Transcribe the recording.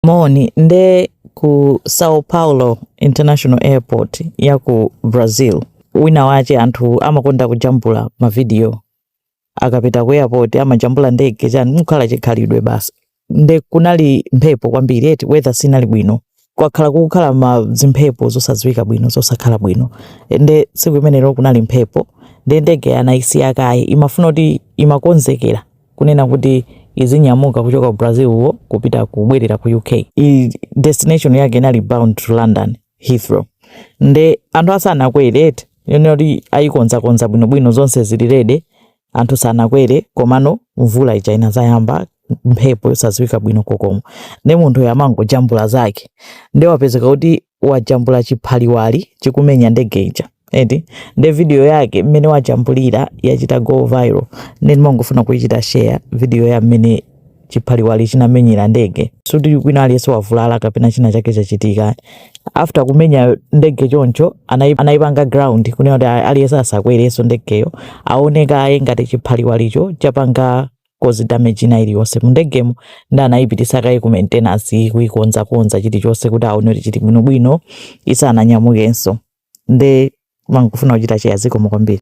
Moni nde ku Sao Paulo International Airport ya ku Brazil. Wina wache anthu amakonda kujambula ma video akapita ku airport amajambula ndege chani mukhala chikhalidwe basi. Nde kunali mphepo kwambiri eti weather sinali bwino kwakhala kukhala ma zimphepo zosadziwika bwino zosakhala bwino nde tsiku imenelo kunali mphepo nde ndege anayisiya kaye imafuna kuti imakonzekera kunena kuti izinyamuka kuchoka ku Brazil wo kupita kubwerera ku UK. Destination yake inali bound to London Heathrow. Nde anthu asanakwere eti yonena kuti ayikonzakonza bwinobwino zonse zili ready anthu sanakwere komano mvula ija inazayamba mphepo yosadziwika bwino kokomo nde munthu amangojambula zake nde wapezeka kuti wajambula chiphaliwali chikumenya ndege ija eti nde video yake mmene wajambulira yachita go viral nde ndimangofuna kuichita share video ya mmene chiphaliwali chinamenyera ndege sikuti kwina aliyense wavulala kapena china chake chachitika after kumenya ndege choncho anayipanga ground kunena kuti aliyense asakwerenso ndegeyo aone kaye ngati chiphaliwalicho chapanga cause damage ina iliyonse mu ndegemo nde anayipititsa kaye ku maintenance kuikonzakonza chilichonse kuti aone kuti chili bwinobwino isananyamukenso nde mangofuna kuchita share zikomo kwambiri